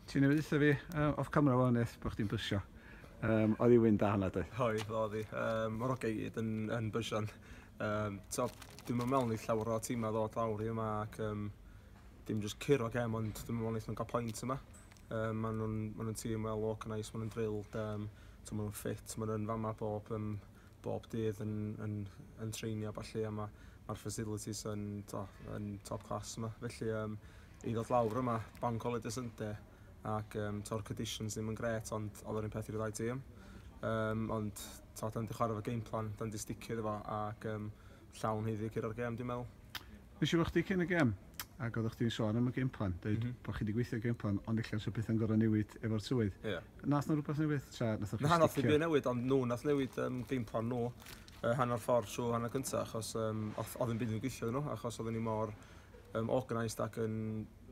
Ti newydd ddeutha fi uh, off camera wan eith bod chdi'n bysio. Um, oedd i wyn da hwnna doedd? Oedd, oedd i. Um, Mae'r ogau i gyd yn, yn bysio'n. Um, so, dim yn mewn i llawer o tîm a ddod lawr i yma ac um, dim jyst curo gem ond dim yn mewn i nhw'n cael pwynt yma. Um, maen nhw'n ma nhw tîm well organised, maen nhw'n drilled, um, so maen nhw'n ffit, maen nhw'n fama bob, um, bob dydd yn, yn, yn treinio a falle a mae'r ma facilities yn, to, yn top class yma. Felly, um, I ddod lawr yma, banc holiday Sunday ac um, to'r conditions ddim yn gret ond oedd yr un peth i'r ddau tîm. Um, ond to, da ni wedi chwarae fo game plan, da ni wedi sticio iddo fo ac um, llawn heiddi gyr o'r gem dwi'n meddwl. Nes i wrach chdi cyn y gem ac oeddech chdi'n sôn am y game plan, dweud mm -hmm. bod chi wedi gweithio game plan ond eich sy'n pethau'n gorau newid efo'r tywydd. Yeah. Nath nhw rhywbeth newid? Tra, nath na, nath nhw newid ond nhw nath newid um, game plan nhw uh, hanner ffordd trwy hanner cyntaf achos um, oedd yn byd yn gweithio nhw achos oedden ni mor um, organised ac yn,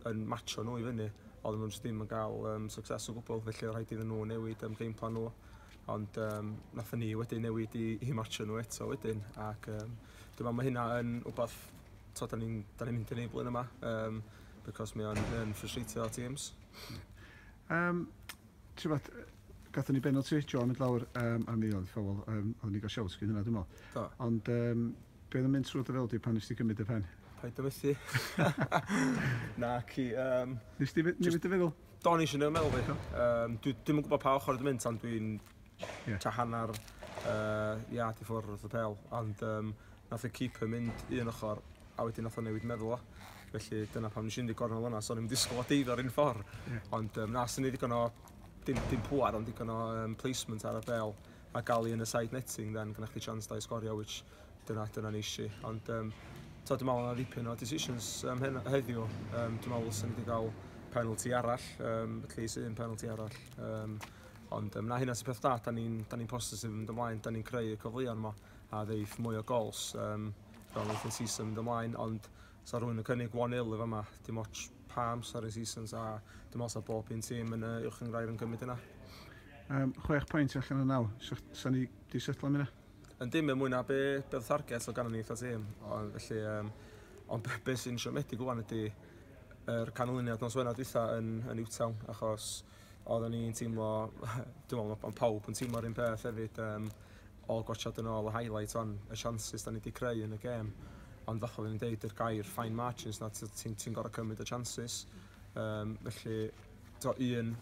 yn matcho nhw i fyny, ond nhw'n ddim yn cael um, success o gwbl, felly rhaid iddyn nhw newid um, game plan nhw. Ond um, nath ni wedyn newid i, i matcho nhw eto wedyn, ac um, dyma mae hynna yn wbeth, to, da ni'n ni, ni mynd yn ei blwyddyn yma, um, because mae o'n ffrusreitio teams. Um, ti'n fath, gatho ni benalty, John mynd lawr um, a mi oedd ffawol, um, oedd ni'n cael siawt gyn hynna dwi'n meddwl. Ond um, Be oedd yn mynd trwy dy feddwl di pan nes ti gymryd dy phen? Paid â methu. Na, ci, um... Nes ti newid dy feddwl? Do, nes i newid meddwl fi. Um, dwi ddim yn gwybod pa ochr dwi'n mynd, ond dwi'n yeah. ta hanner uh, iad i ffwrdd wrth y pel. Ond um, nath y keeper mynd un ochr, a wedyn nath o newid meddwl o. Felly dyna pam nes i'n ddigonol yna, so ni'n disgwyl o deiddo ar un ffordd. Yeah. Ond um, na, sy'n ni ddigon o, dim, dim pwar, ond ddigon o um, placement ar y bel. a galu yn y side netting then gyda chdi chance da i sgorio which dyna dyna neisi ond um, to dwi'n meddwl yna ddipyn o decisions um, hen, heddiw um, dwi'n meddwl sy'n wedi cael penalty arall um, at least un penalty arall um, ond um, na hynna sy'n peth da da ni'n ni positif yn mynd ymlaen da ni'n creu y cyfleon yma a ddeif mwy o gols um, fel wnaeth yn season mynd ymlaen ond Sa rhywun yn cynnig 1-0 yn fama, dim ots pa amser y seasons a dim ots a bob un tîm yn y Uwch Gyngrair yn gymryd yna. Um, chwech pwynt allan o naw, sa ni di setlo am hynna? Yn dim yn mwy na be, be oedd target o ganol ni eitha tîm, ond felly, um, ond be, be sy'n siomedig wwan ydy yr canlyniad nos wena dwytha yn, yn Newtown, achos Oeddwn i'n teimlo, dwi'n meddwl bod pawb yn teimlo'r un peth hefyd, um, ôl gwatsiad yn ôl y highlight on, y chances da ni wedi creu yn y gêm. Ond fath oeddwn i'n deud, yr gair fine margins na, ti'n ti gorau cymryd y chances. Um, felly, to, un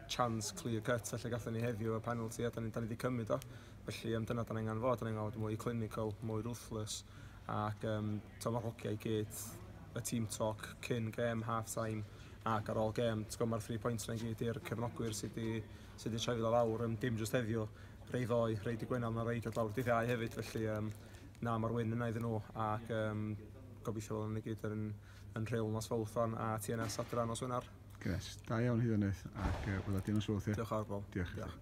chance clear cut felly gatho ni heddiw y penalty a da ni, da ni wedi cymryd o. Felly, um, dyna da ni'n angen fod, da ni'n angen fod mwy clinical, mwy ruthless ac um, Tymor hoci i gyd, y team talk cyn gêm, half time ac ar ôl gêm. T'gwbod mae'r three points yna i gyd i'r cefnogwyr sydd di, sydd di trefyd o lawr, um, dim just heddiw, rei ddoe, rei di Gwener, mae rei dod lawr dydd iau hefyd, felly um, na mae'r wyn yna iddyn nhw ac um, gobeithio bod nhw'n gyd yn, yn rheol nos fawth fan a TNS adra nos Wener. Gret, da iawn hyd yn oed ac uh, bod â dinos fawth ie? Diolch ar bol. Diolch. Diolch.